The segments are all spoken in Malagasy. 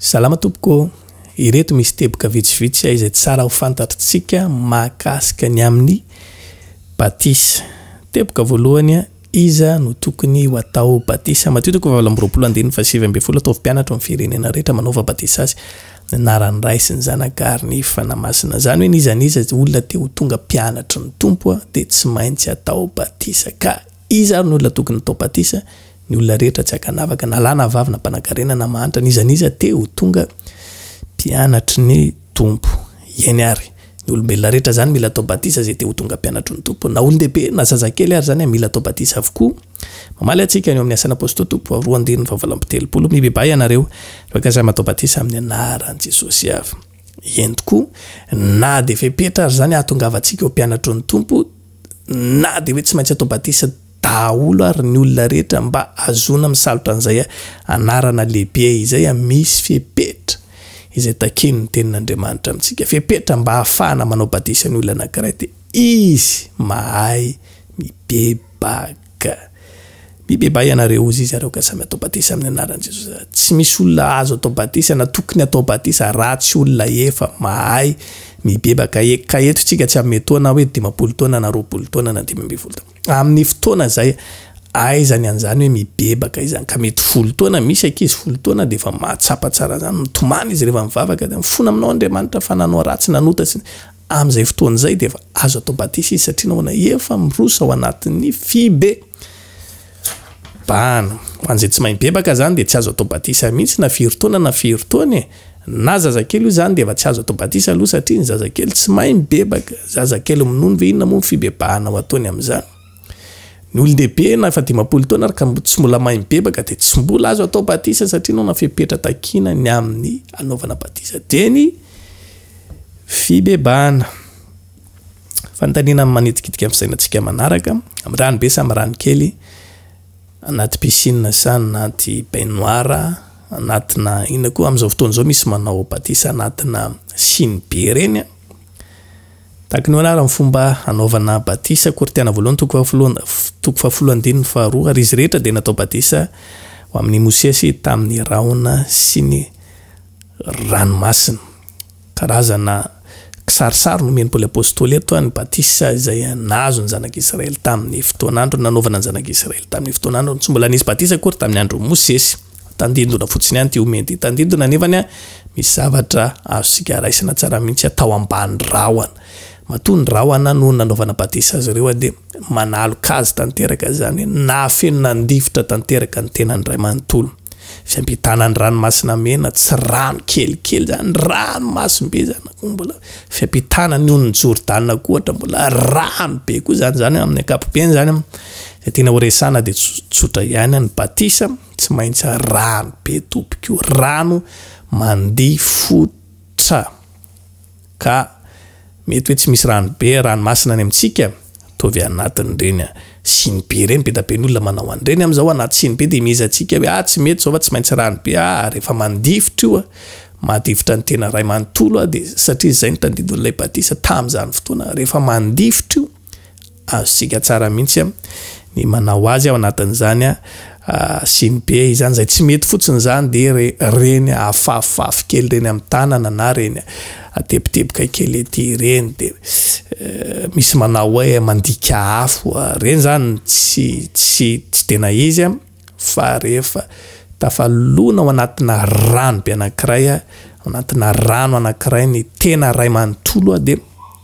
Salama tompoko ô! Ireto misy teboka vitsivitsy izay tsara ho fantatritsika mahakasika ny amin'ny batisa. Teboka voalohany, Iza no tokony ho atao batisa? Matio toko fahavalo amby roapolo andininy fahasivy ambin'ny folo Ataovy mpianatro amin'ny firenena rehetra manaova batisa azy amin'ny anaran'ny Ray sy ny Zanaka ary ny Fanahy Masina. Izany hoe n'iza n'iza olona te ho tonga mpianatry ny Tompo dia tsy maintsy atao batisa ka. Iza ary ny olona tokony hatao batisa? Ny olona rehetra tsy ankanavaka, na lahy na vavy, na mpanankarena na mahantra, na iza na iza te ho tonga mpianatry ny Tompo. Eny ary, ny olombelona rehetra izany mila atao batisa izay te ho tonga mpianatry ny Tompo. Na olon-dehibe na zazakely ary izany mila atao batisa avokoa. Mamaly antsika ny ao amin'ny Asan'ny Apôstôly Tompo faha roa andininy faha valo amby telopolo, Mibebaha ianareo, raha ka samy atao batisa amin'ny anaran'i Jesosy avy. Eny tokoa, na dia fepetra ary izany hahatongavantsika ho mpianatry ny Tompo, na dia hoe tsy maintsy atao batisa daholo ary ny olona rehetra mba azoana misalotra an'izay anarana lehibe izay, misy fepetra izay takian'ny Tenin'Andriamanitra amintsika, fepetra mba hahafahana manao batisa ny olona anankiray, dia Izy mahay mibebaka. Ka. Mibebay ianareo ozy zareo ka samy atao batisa amin'ny anaran'i Jesosy. Tsy misy olona azo atao batisa na tokony atao batisa ratsy olona efa mahay mibebaka e. Ka eto tsika tsy hanome taona hoe dimampolo taona na roapolo taona na dimy ambin'ny folo taona. Amin'ny fotoana izay aiza ny an'izany hoe mibebaka izany. Ka mety folo taona misy ankizy folo taona dia efa mahatsapa tsara izany. Mitomany izy rehefa mivavaka dia mifona aminao Andriamanitra fa nanao ratsy nanota sy ny. Amin'izay fotoana izay dia efa azo atao batisa izy satria nahoana? Efa miroso ao anatin'ny fibebahana. Ho an'izay tsy mahay mibebaka izany dia tsy azo atao batisa mihitsy na firy taona na firy taona e! Na zazakely io izany dia efa tsy azo atao batisa aloha satria ny zazakely tsy mahay mibebaka. Zazakely minono ve inona moa ny fibebahana ho ataony amin'izany? Ny olon-dehibe na efa dimampolo taona ary ka tsy mbola mahay mibebaka dia tsy mbola azo atao batisa satria nanao fepetra takiana ny amin'ny hanaovana batisa. Dia ny fibebahana. Fanontaniana manitikitika amin'ny fisainantsika manaraka, amin'ny rano be sa amin'ny rano kely, anaty piscine sa anaty baignoire, anatina inona koa, amin'izao fotoana izao misy manao batisa anatina sinibe ireny an! Takinoana ary ny fomba hanaovana batisa, Korintiana voalohany toko fahafolo and toko fahafolo andininy faharoa, ary izy rehetra dia natao batisa ho amin' i Mosesy tamin' ny rahona sy ny ranomasina. Karazana kisarisary no omen' i Paoly apôstôly eto, ny batisa izay nahazo ny Zanak' Israely tamin' ny fotoan' androny, nanaovana ny Zanak' Israely tamin' ny fotoan' androny. Tsy mbola nisy batisa akory tamin' ny andron' i Mosesy. Tandindona fotsiny ihany ity omena ity. Tandindona anefany an, misy zavatra azontsika raisina tsara mihitsy an, tao ambany rahona. Matoa ny rahona no nanaovana batisa azy ireo an, dia manaloka azy tanteraka izany hoe nahafeno nandifitra tanteraka ny tenany iray manontolo. Fiampitana ny ranomasina mena, tsy rano kelikely izany, ranomasimbe izany, koa mbola fiampitana ny onin'i Jordana koa ohatra, mbola rano be koa izany, izany amin'ny ankapobeny izany an. Zay tiana ho resahana dia tsotsotra ihany an, ny batisa tsy maintsy rano be tompoko, rano mandia fotra ka mety hoe tsy misy rano be rano masina any amintsika ataovy anatin'ireny an, siny be ireny, be da be ny olona manao an'ireny amin'izao anaty siny be dia mihezantsika hoe ah tsy mety izao fa tsy maintsy rano be ah ary efa mandifotra io an, mahadifotra ny tena ray manontolo an dia satria izay no tandindon'ilay batisa tamin'izany fotoana rehefa mandifotra io, Azontsika tsara mihitsy ny manao azy ao anatin'izany siny be izany, izay tsy mety fotsiny izany dia ireny afafafy kely ireny amin'ny tanana na ireny teboteboka kely ety ireny dia misy manao hoe mandika afo, ireny izany tsy tsy tsy tena izy fa rehefa tafalona ao anatina rano be anankiray, ao anatina rano anankiray ny tena iray manontolo dia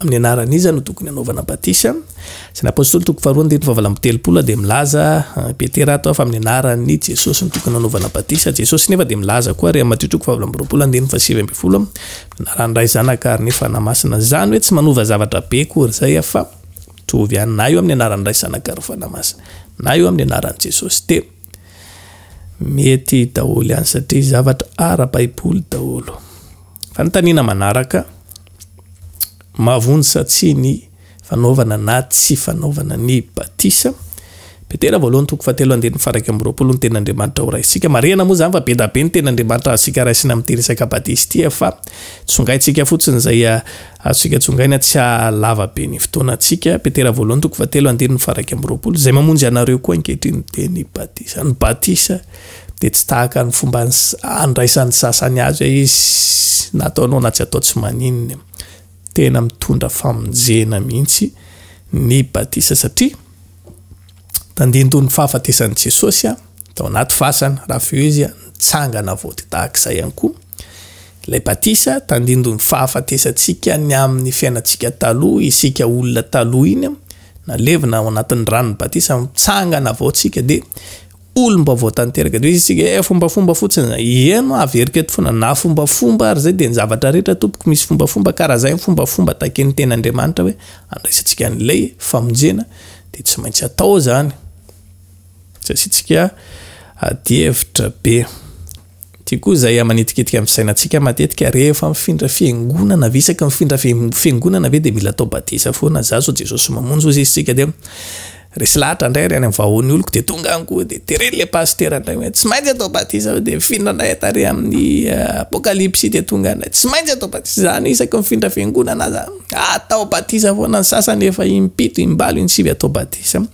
Amin'ny anaran'iza no tokony hanaovana batisa? Asan'ny Apostoly toko faharoa andininy fahavalo amby telopolo dia milaza i Petera ato fa amin'ny anaran'i Jesosy no tokony hanaovana batisa. Jesosy nefa dia milaza koa ary amin'ny Matio toko fahavalo amby roapolo andininy fahasivy ambin'ny folo, amin'ny anaran'ny Ray, Zanaka ary ny Fanahy Masina. Izany hoe tsy manova zavatra be akory izay aho fa mitovy ihany na eo amin'ny anaran'ny Ray, Zanaka ary Fanahy Masina na eo amin'ny anaran'i Jesosy dia mety daholo ihany satria zavatra ara-baiboly daholo. Fanontaniana manaraka. Mahavonjy sa tsia ny fanaovana na tsy fanaovana ny batisa? Petera voalohany toko fahatelo andininy faharaika amby roapolo Ny Tenin'Andriamanitra horaisitsika. Marihana moa izany fa be da be ny Tenin'Andriamanitra azontsika raisina amin'ity resaka batisa ity fa tsongaintsika fotsiny izay azontsika tsongaina tsy hahalava be ny fotoanantsika. Petera voalohany toko fahatelo andininy faharaika amby roapolo Izay mamonjy anareo koa ankehitriny dia ny batisa. Ny batisa dia tsy tahaka ny fomba andraisan'ny sasany azy hoe izy na atao noana tsy atao tsy maninona. Tena mitondra famonjena mihitsy ny batisa satria tandindon'ny fahafatesan'i Jesosy tao anaty fasana raha feo izy nitsangana voty tahaka izay ihany koa. Ilay batisa tandindon'ny fahafatesantsika ny amin'ny fiainantsika taloha isika olona taloha iny nalevina ao anatin'ny ranon'ny batisa mitsangana vao tsika dia olom-baovao tanteraka, de hoe isika eh fombafomba fotsiny, ieno averiko eto foana, na fombafomba ary zay de ny zavatra rehetra tompoko misy fombafomba ka raha zay ny fombafomba takian'ny ten'Andriamanitra hoe andraisantsika an'ilay famonjena de tsy maintsy atao zany, tsy asiantsika adihevitra be. Ity koa izay amanitikitika ny fisainantsika matetika, rehefa mifindra fiangonana ve isaky mifindra fiangonana ve dia mila atao batisa foana za sao Jesosy mamonjy ozy izy tsika dia resy lahatra indray ary any amin'ny vahoan'ny oloko dia tonga any koa dia tereny le pasitera indray hoe tsy maintsy atao batisa dia mifindra indray ata ary amin'ny apokalipsy dia tonga indray tsy maintsy atao batisa izany isaky mifindra fiangonana aza atao batisa foana ny sasany efa impito imbalo insivy atao batisa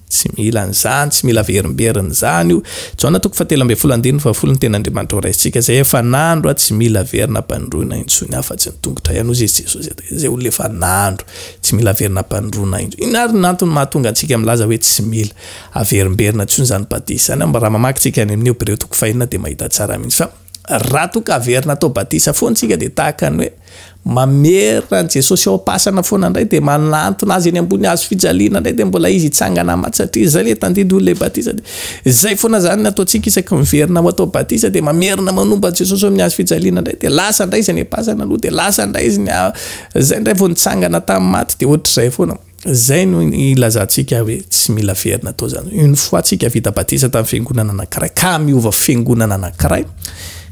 Tsy mila an'izany, tsy mila verimberina izany io. Jaona toko fahatelo ambin'ny folo andininy fahafolo ny Tenin'Andriamanitra horaisintsika, izay efa nandro, tsy mila averina am-panindroana intsony afa-tsy ny tongotra ihany, hoy izy Jesosy, izay olona efa nandro, tsy mila averina am-panindroana intsony. Inona ary no antony mahatonga antsika milaza hoe tsy mila averimberina intsony izany batisa izany? Raha mamaky tsika any amin'ny Hebreo toko fahenina dia mahita tsara mihitsy fa. Raha toa ka averina atao batisa foana isika dia tahaka ny hoe mamerina an'i Jesosy ao am-pasana foana indray dia manantona Azy eny ambony hazo fijaliana indray dia mbola Izy hitsangana maty satria izay ilay tandindoy ilay batisa dia izay foana izany ny ataontsika isaky miverina ho atao batisa dia mamerina manomba an'i Jesosy eo amin'ny hazo fijaliana indray dia lasa indray izay nepasana aloha dia lasa indray izy ny izay indray vao nitsangana tamin'ny maty dia ohatr'izay foana Izay no ilazantsika hoe tsy mila very natao izany. Une fois tsika vita batisa tamin'ny fiangonana anankiray, ka miova fiangonana anankiray,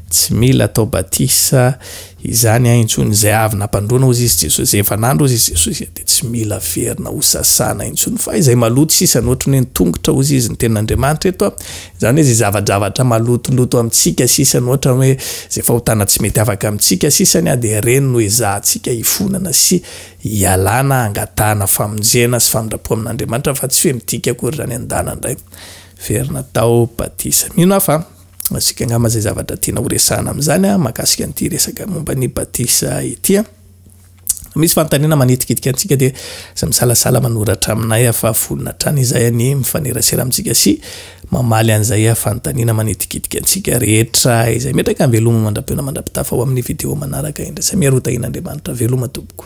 tsy mila atao batisa izany ahy intsony. Izay avy nampandroana hozy izy Jesosy, izay efa nandro hozy izy Jesosy, dia tsy mila very na hosasana intsony. Fa izay maloto sisa, ny ohatran'ny hoe ny tongotra hozy izy ny tenin'Andriamanitra eto, izany hoe izay zavadravatra malotoloto amintsika sisa, ny ohatran'ny hoe izay fahotana tsy mety afaka amintsika sisany, dia ireny no ezahantsika hifonana sy Ialana hangatahana famonjena sy famindrapoa amin'Andriamanitra fa tsy fe midika akory zany andana ndray very natao batisa. Mino aho fa azontsika angamba zay zavatra tiana ho resahana amin'izany a, mahakasika an'ity resaka momba ny batisa ity a. Misy fanontaniana manitikitika antsika dia aza misalasala manoratra aminay a fa vonona hatrany izahay anie mifanerasera amintsika sy Mamaly an'izay fanontaniana manitikitika antsika rehetra izay metraka Veloma mandra-peo na mandra-pitafa ao amin'ny video manaraka indray Samia Rotahin'Andriamanitra Veloma tompoko.